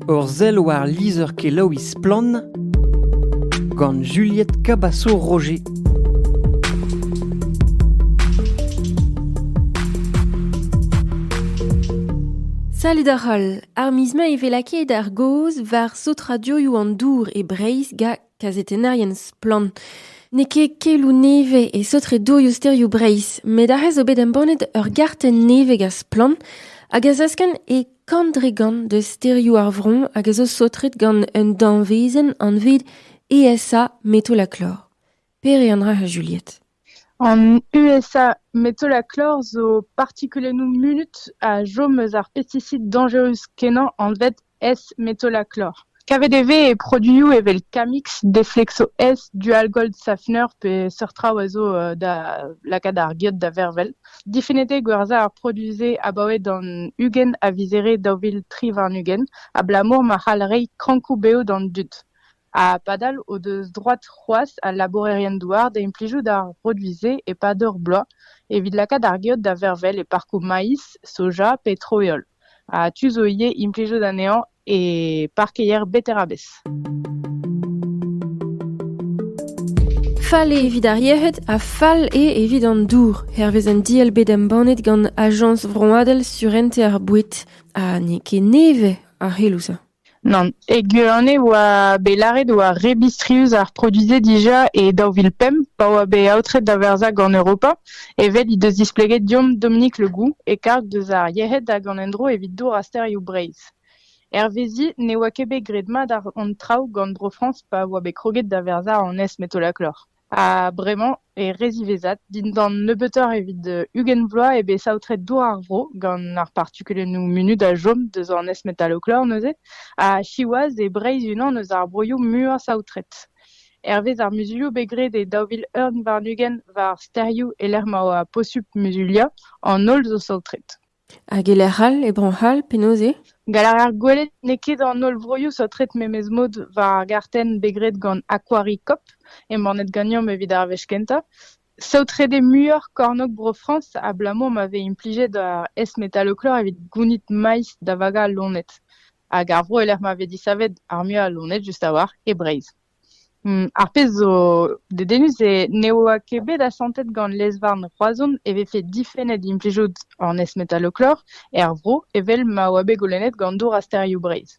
Ur sell war lizher-kelaouiñ Splann! gant Juliette Cabaço-Roger. Salut da holl! Ar miz-mañ e vez lakaet ar gaoz war saotrañ an dourioù an dour e Breizh ga kazetennerien splann. N'eo ket keloù nevez e saotre-dourioù sterioù Breizh, met aze zo bet embannet ur gartenn nevez gant Splann hag a zaskenn e kant-dre-gant de sterioù ar vron hag a zo saotret gant un danvezenn anvet ESA Metalaclor. Pere an dra a Juliette An USA metolaklor zo partikulennoù munut a chom eus ar pestisid dañjerus-kenañ anvet S-metolaklor. Kavet e vez e produioù evel Camix, Deflexo S, Dual-Gold Safener pe seurt traoù a zo da lakaat ar geot da vervel. Difennet eo gwerzhañ ar produioù-se abaoe d'an ugent a vizere daou vil tri warn-ugent abalamour ma c'hall reiñ krankoù bev d'an dud. Ha padal o deus droad c'hoazh al labourerien-douar da implijout ar produiñ-se e-pad ur bloaz evit lakaat ar geot da vervel e parkoù maïs, soja pe tro-heol. Ha tu zo ivez implijout anezhañ e parkeier beterabez. Fall eo evit ar yec'hed ha fall eo evit an dour, hervez un diell bet embannet gant Ajañs vroadel surentez ar boued. Ha n'eo ket nevez ar c'heloù-se. Nann, e Guerane e oa bet lâret e oa re bistrius ar produiñ-se dija e daou vil pemp pa oa bet aotret da verzhañ gant Europa. Evel he deus displeget deomp Dominique Le Goux, e-karg deus ar yec'hed hag an endro evit dour ha sterioù Breizh. Hervezi ne oa ket bet graet mat hon traoù gant Bro-Frañs pa oa bet kroget da verzhañ an es-metolaklor. Ha bremañ eo re ziwezhat, dindan nebeutoc'h evit ugent vloaz eo bet saotret dour ar vro gant ar partikulennoù munut a chom deus an S-metaloclore neuze, ha siwazh eo Breizh unan eus ar broioù muiañ saotret. Hervez ar muzulioù bet graet e daou vil ugent warn-ugent war stêrioù e-lec'h ma oa posupl muzuliañ, an holl zo saotret. Hag e-lec'h all, e Bro-C'hall, penaos eo ? Gall a raer gwelet n'eo ket an holl vroioù saotret memes mod war ar gartenn bet graet gant Aquaricop, embannet ganeomp evit ar wech kentañ. Saotret eo muioc'h kornôg Bro-Frañs abalamour ma vez implijet ar S-metalochlor evit gounit maiz da vagañ al loened. Hag ar vro e-lec'h ma vez disavet ar muiañ a loened just a-walc'h e Breizh. Ar pezh zo dedennus eo ne oa ket bet asantet gant lez-varn Roazhon e vefe difennet implijout an S-metalloclor er vro evel ma oa bet goulennet gant Dour ha Stêrioù Breizh.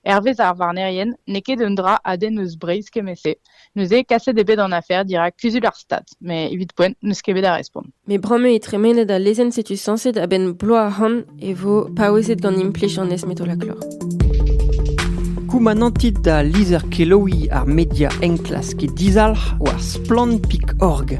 Hervez ar varnerien n'eo ket un dra a denn eus Breizh kement-se. Neuze kaset eo bet an afer dirak Kuzul ar Stad. Mais evit poent, n'eus ket bet a respont. Mais bremañ eo tremenet al lezenn setu sañset a-benn bloaz ahont e vo paouezet gant implij an esmetolaklor. Koumanantit da lizher kelaouiñ ar media enklask e dizalc'h war splann.org.